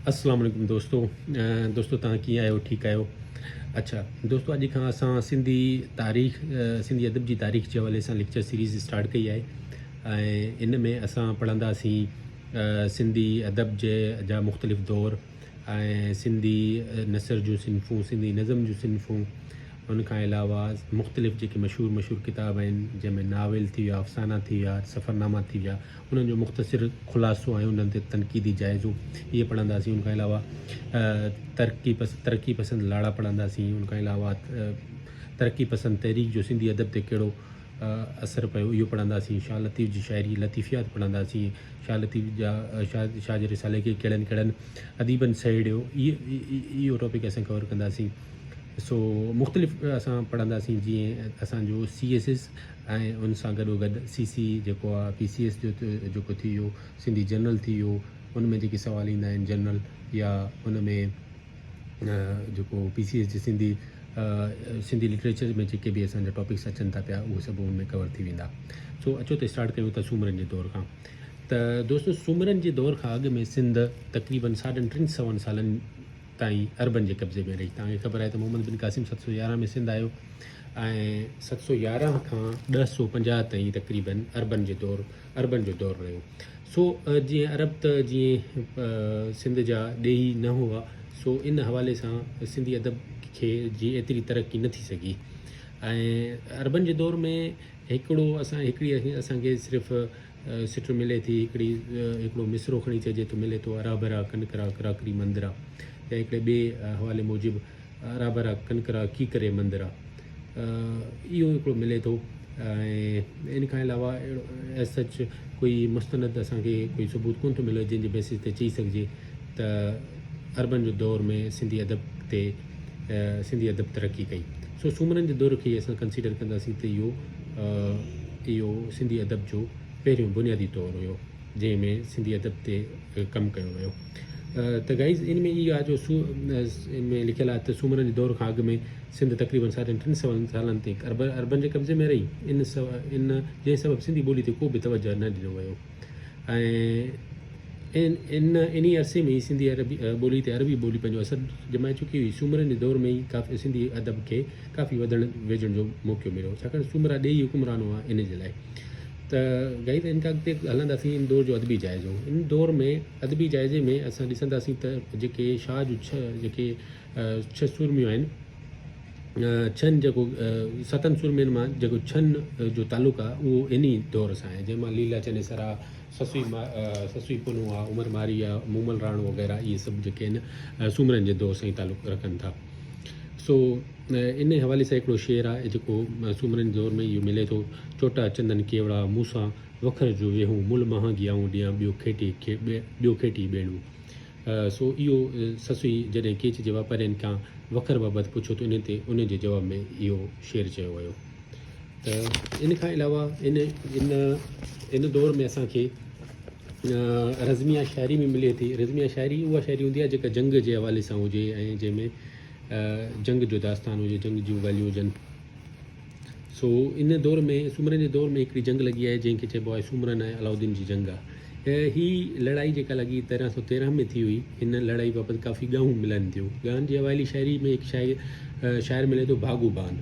اسلام عليڪم دوستو دوستو تان ڪي آيو ٺيڪ آيو اچھا دوستو اڄ کان اسان سنڌي تاريخ سنڌي ادب جي تاريخ جي حوالي سان ليڪچر سيريز اسٽارٽ ڪئي آهي ۽ ان ۾ اسان پڙهندا سي سنڌي ادب جي جا مختلف دور ۽ سنڌي نثر جون صنفون سنڌي نظم جون صنفون ان کان علاوه مختلف جيڪي مشهور مشهور ڪتاب آهن جنهن ۾ ناول ٿي ويا افسانا ٿي ويا سفرناما ٿي ويا انهن جو مختصر خلاصو ۽ انهن تي تنقيدي جائزو اهي پڙهنداسين. ان کان علاوه ترقي پسند لاڙا پڙهنداسين. ان کان علاوه ترقي پسند تحريڪ جو سنڌي ادب تي ڪهڙو اثر پيو اهو پڙهنداسين. شاهه لطيف جي شاعري لطيفيات پڙهنداسين. شاهه لطيف جا شاهه جي رسالي کي ڪهڙن ڪهڙن اديبن سهيڙيو اهو ٽاپڪ اسان ڪور ڪنداسين. سو مختلف اسان پڙهنداسين جيئن اسان جو سي ايس ايس ۽ ان سان گڏوگڏ سي سي جيڪو آ پي سي ايس جو جيڪو ٿي ويو سنڌي جنرل ٿي ويو ان ۾ جيڪي سوال ايندا آهن جنرل يا ان ۾ جيڪو پي سي ايس جي سنڌي سنڌي لٽريچر ۾ جيڪي به اسان جا ٽاپڪس اچن ٿا پيا اهي سڀ ان ۾ ڪور ٿي ويندا سو اچو ته اسٽارٽ ڪيون ٿا سومرن جي دور کان ته دوستو سومرن جي دور کان اڳ ۾ سنڌ تقريبن ساڍن ٽن سون سالن تائين عربن جي قبضي ۾ رهي. توهان کي خبر آهي ته محمد بن قاسم ست سؤ يارهن ۾ سنڌ آيو ۽ ست سؤ يارهن کان ڏهه سؤ پنجاهه تائين تقريبن عربن جي دور عربن جو دور رهيو. سو جيئن عرب ته جيئن سنڌ جا ڏيهي نه هئا سو ان حوالي سان سنڌي ادب کي جي ايتري ترقي نه ٿي سگهي ۽ عربن جي دور ۾ هڪڙو اسان هڪڙي اسان کي صرف سٽ ملي ٿي هڪڙي هڪڙو مصرعو کڻي چئجي ٿو ملي ٿو ارابرا ڪنڪرا ڪراڪري مندرا يا هڪڙي ٻئي حوالي موجب ارابرا ڪنڪرا ڪيڪري مندرا اهو هڪڙو ملي ٿو ۽ ان کان علاوه اهڙو سچ ڪوئي مستند اسان کي ڪوئي ثبوت ڪون ٿو ملي جنهن جي بيسس تي چئي سگهجي ته اربن جو دور ۾ سنڌي ادب تي ته سنڌي ادب ترقي ڪئي. سو سومرن جي دور کي ئي اسان ڪنسيڊر ڪنداسين ته اهو اهو سنڌي ادب جو پهريون بنيادي دور هيو جنهن ۾ سنڌي ادب تي ڪم ڪيو ويو. ته گائيز ان ۾ اها جو سو ان ۾ لکيل آهي ته سومرن جي دور کان اڳ ۾ سنڌ تقريبن ساڍن ٽن سون سالن تائين عربن جي قبضي ۾ رهي ان ان جنهن سبب سنڌي ٻولي تي ڪو به توجهه نه ڏنو ويو. ۽ ان انهي عرصي ۾ ئي سنڌي ٻولي تي عربي ٻولي پنهنجو اثر ڄمائي چڪي هئي. سومرن جي دور ۾ ئي سنڌي ادب کي ڪافي وڌڻ ويجهڻ جو موقعو مليو ڇاڪاڻ سومرا ڏيهي حڪمران هئا ان جي لاء ته گائي ته ان کان اڳتي هلنداسين ان دور جو ادبي جائزو ان دور ۾ ادبي جائزي ۾ اسان ڏسنداسين ته جيڪي شاهه جو ڇهه جيڪي ڇهه سورميون آهن. ڇهن جيڪو ستن سورمين مان جيڪو ڇهن جو تعلق آهي اهو انهي دور سان آهي جنهن مان ليلا چنيسر آ، سسئي سسئي پنهون آ، عمر مارئي آ، مومل راڻو وغيره اهي سڀ جيڪي آهن سومرن جي دور سان ئي تعلق رکن ٿا. سو انهي حوالي سان هڪڙو شعر آ جيڪو سومرن جي دور ۾ اهو ملي ٿو، چوٽا چندن ڪيوڙا مون سان وکر جو ويهون مل مهانگي آئون ڏيان ٻيو کيٽي ٻيو کيٽي ٻيڻو. سو اهو سسئي جڏهن ڪيچ جي واپارين کان وکر بابت پڇيو ته انهن تي انهن جي جواب ۾ اهو شعر چيو ويو ته ان کان علاوه ان ان ان دور ۾ اسان کي رزميا شاعري ۾ ملي ٿي رزميا شاعري اها شاعري هوندي آهي جيڪا جنگ جي حوالي سان هجي ۽ جنهن ۾ جنگ جو داستان هجي جنگ جون ڳالهيون هجن سو ان دور ۾ سومرن جي دور ۾ هڪڙي جنگ لڳي آهي جنهن کي چئبو آهي سومرن ۽ علاؤالدين جي جنگ آهي هي لڙائي جيڪا لڳي تيرهن سو تيرهن ۾ ٿي هئي هن لڙائي بابت ڪافي ڳائون ملن ٿيون ڳائن جي اوائلي شاعري ۾ هڪ شاعر شاعر ملي ٿو ڀاڳو بان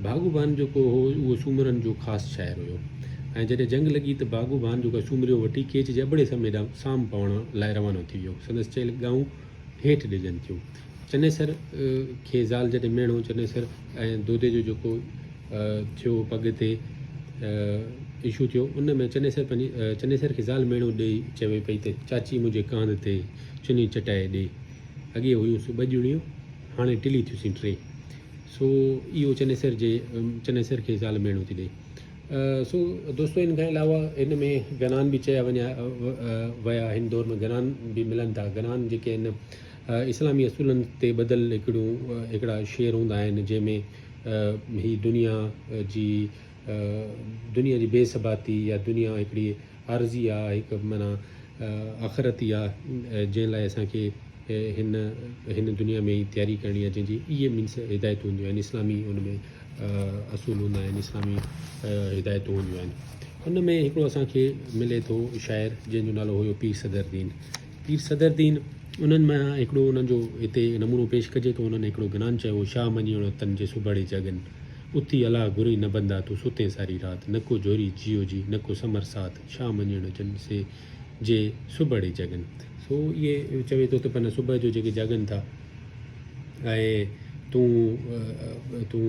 ڀاڳو بان جيڪو هو اهو سومرن جو خاص شاعر هيو ۽ جڏهن جنگ لڳي ته ڀاڳو بان جيڪو سومريو وٺي ڪيچ جي ابڙي سمي ڏانهن سام پوڻ لاء روانو ٿي ويو سندس چيل ڳائون هيٺ ڏجن ٿيون. چنيسر کي زال جڏهن ميڻو چنيسر ۽ دودي جو جيڪو ٿيو پڳ تي اشو ٿيو ان ۾ چنيسر پنهنجي چنيسر کي زال ميڻو ڏئي چوي پئي ته چاچي منهنجي ڪانڌ تي چني چٽائي ڏي اڳي هيون سون ٻه ڄڻيون هاڻي ٽلي ٿيون سين ٽي سو اهو چنيسر جي چنيسر کي زال ميڻو ٿي ڏئي. سو دوستو ان کان علاوه ان ۾ گنان به چيا وڃا ويا هن دور ۾ گنان به ملن ٿا گنان جيڪي ان اسلامي اصولن تي بدل هڪڙو هڪڙا شعر هوندا آهن جنهن ۾ هي دنيا جي دنيا جي بي ثباتي يا دنيا هڪڙي عارضي آ، هڪ معنيٰ آخرتي آ، جنهن لاء اسان کي هن هن دنيا ۾ ئي تياري ڪرڻي آ، جنهن جي اهي مينس هدايتون هونديون آهن، اسلامي ان ۾ اصول هوندا آهن، اسلامي هدايتون هونديون آهن. ان ۾ هڪڙو اسان کي ملي ٿو شاعر، جنهن جو نالو هيو پير صدر الدين، پير صدر دين انهن مان هڪڙو انهن جو هتي نمونو پيش ڪجي ٿو انهن هڪڙو گنان چيو شاهه مڃيڻو تن جي سڀاڙي جاڳن اتي الاهه گهرئي نه بندا تو ستين ساري رات نڪو جهوري جيو جي نڪو سمر ساٿ شاهه مڃيڻو جن سي جي سڀاڙي جاڳن. سو اهي چوي ٿو ته پنهن صبح جو جيڪي جاڳن ٿا ۽ تون تون.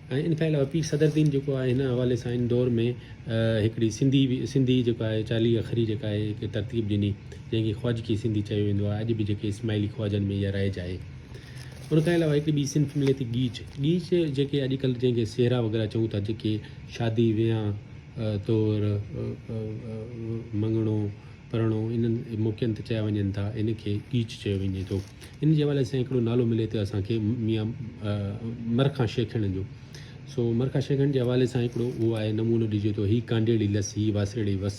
۽ ان کان علاوه پير صدرالدين جيڪو آهي هن حوالي سان ان دور ۾ هڪڙي سنڌي سنڌي جيڪو آهي چاليهه اکري جيڪا آهي هڪ ترتيب ڏني جنهن کي خواجڪي سنڌي چيو ويندو آهي اڄ به جيڪي اسماعيلي خواجن ۾ اها رائج آهي ان کان علاوه هڪڙي ٻي صنف ملي ٿي ڳيچ ڳيچ جيڪي اڄڪلهه جنهن کي سهرا وغيره چئون ٿا جيڪي شادي ويهان طور مڱڻو پراڻو انهن موقعن تي چيا وڃن ٿا، ان کي ڳيچ چيو وڃي ٿو. ان جي حوالي سان هڪڙو نالو ملي ٿو اسان کي ميان مرخان شيخڻ جو. سو مرخان شيخڻ جي حوالي سان هڪڙو اهو آهي نمونو ڏجي ٿو، هي ڪانڊيڙي لس، هي واسيڙي وس،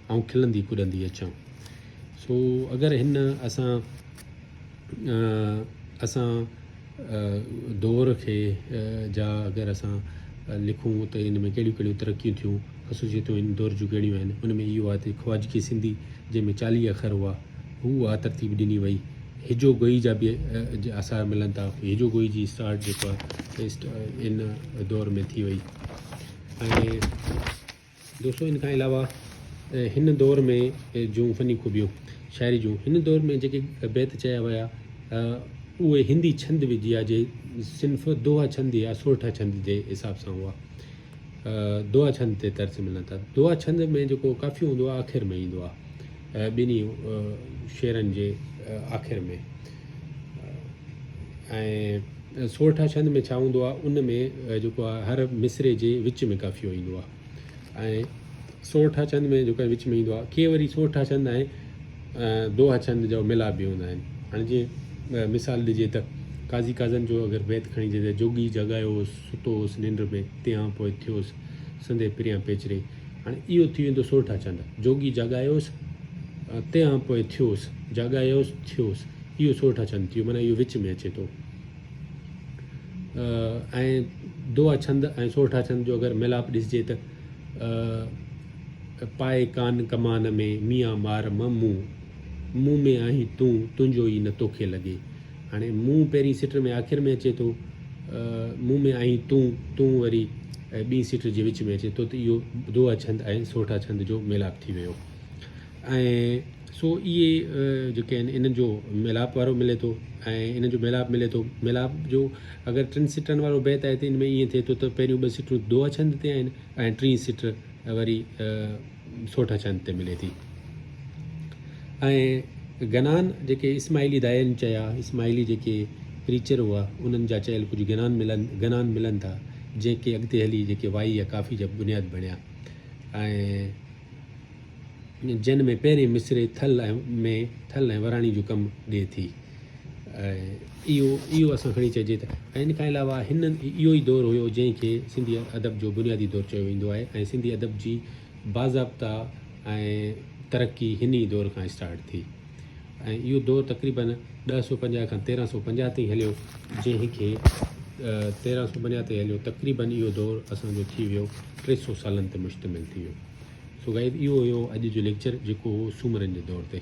آئون کلندي ڪڏندي اچان. سو اگر هن اسان. اسان دؤر کي جا اگر اسان لکون ته ان ۾ ڪهڙيون ڪهڙيون ترقيون ٿيون، خصوصيتون ان دؤر جون ڪهڙيون آهن، ان ۾ اهو آهي ته خواجگي سنڌي جنهن ۾ چاليهه اکر هئا، هو اها ترتيب ڏني وئي. هجو گوئي جا به آثار ملن ٿا، هجو گوئي جي اسٽارٽ جيڪو آهي ان دؤر ۾ ٿي وئي ۽ دوستو ان کان علاوه هن دور ۾ جون فني خوبيون شاعري جون هن دور ۾ جيڪي بيت چيا ويا اهي هندي ڇند وديا جي صنف دوها ڇند يا سورٺا ڇند جي حساب سان هئا دوها ڇند تي ترس ملن ٿا دوها ڇند ۾ جيڪو ڪافي هوندو آخر ۾ ايندو آهي ٻنهي شعرن جي آخر ۾ ۽ سورٺا ڇند ۾ ڇا هوندو آهي ان ۾ جيڪو آهي هر مصرعي جي وچ ۾ قافيو ايندو آهي ۽ سورٺا ڇند ۾ جيڪو وچ ۾ ايندو آهي ڪي وري سورٺا ڇند ۽ دوها ڇند جو ملاپ به هوندا آهن هاڻي جيئن مثال ڏجي ته قاضي قاضن جو اگر بيت کڻي جي جوڳي جڳايو هوس ستو هوس ننڊ ۾ تيان پوء ٿيوس سندي پريان پيچري هاڻ اهو ٿي ويندو سورٺا چنڊ. جوڳي جاڳايوس، تنهان پوء ٿيوس، جاڳايوس، ٿيوس. اهو سورٺا ڇند ٿيو، معنيٰ اهو وچ ۾ اچي ٿو. ۽ دعا ڇند ۽ سورٺا ڇند جو اگر ميلاپ ڏسجي ته، پائي ڪان ڪمان ۾، ميان مار م مون، مون ۾ آهين تون، تنهنجو ئي نه توکي لڳي. هاڻي مون پهرين سٽر ۾ آخر ۾ اچي ٿو مون ۾ آهين تون، تون وري ۽ ٻين سٽر جي وچ ۾ اچي ٿو ته اهو دوها ڇند ۽ سورٺا ڇند جو ميلاپ ٿي ويو ۽ سو اهي جيڪي آهن انهن جو ميلاپ وارو ملي ٿو ۽ انهن جو ميلاپ ملي ٿو ميلاپ جو اگر ٽن سٽرن وارو بيت آهي ته ان ۾ ائين ٿئي ٿو ته پهريون ٻه سٽرون دوها ڇند تي آهن ۽ ٽين سٽر ۽ وري سوٺ چند تي ملي ٿي ۽ گنان جيڪي اسماعيلي دائين چيا اسماعيلي جيڪي پريچر هئا انهن جا چيل ڪجهه گنان ملن گنان ملن ٿا جنهن کي اڳتي هلي جيڪي وائي يا ڪافي جا بنياد بڻيا ۽ جن ۾ پهرين مصرعي ٿل ۾ ٿل ۽ وراڻي جو ڪم ڏي ٿي. اهو اهو اصل کڻي چئجي ته ۽ ان کان علاوه هن اهو ئي دور هيو جنهن کي سنڌي ادب جو بنيادي دور چيو ويندو آهي ۽ سنڌي ادب جي باضابطه ۽ ترقي هن ئي دور کان اسٽارٽ ٿي ۽ اهو دور تقريبن ڏهه سو پنجاهه کان تيرهن سو پنجاهه تائين هليو جنهن کي تيرهن سو پنجاهه تائين هليو تقريبن اهو دور اسانجو ٿي ويو ٽي سو سالن تي مشتمل ٿي ويو سو غائب اهو هيو اڄ جو ليڪچر جيڪو هو سومرن جي دور تي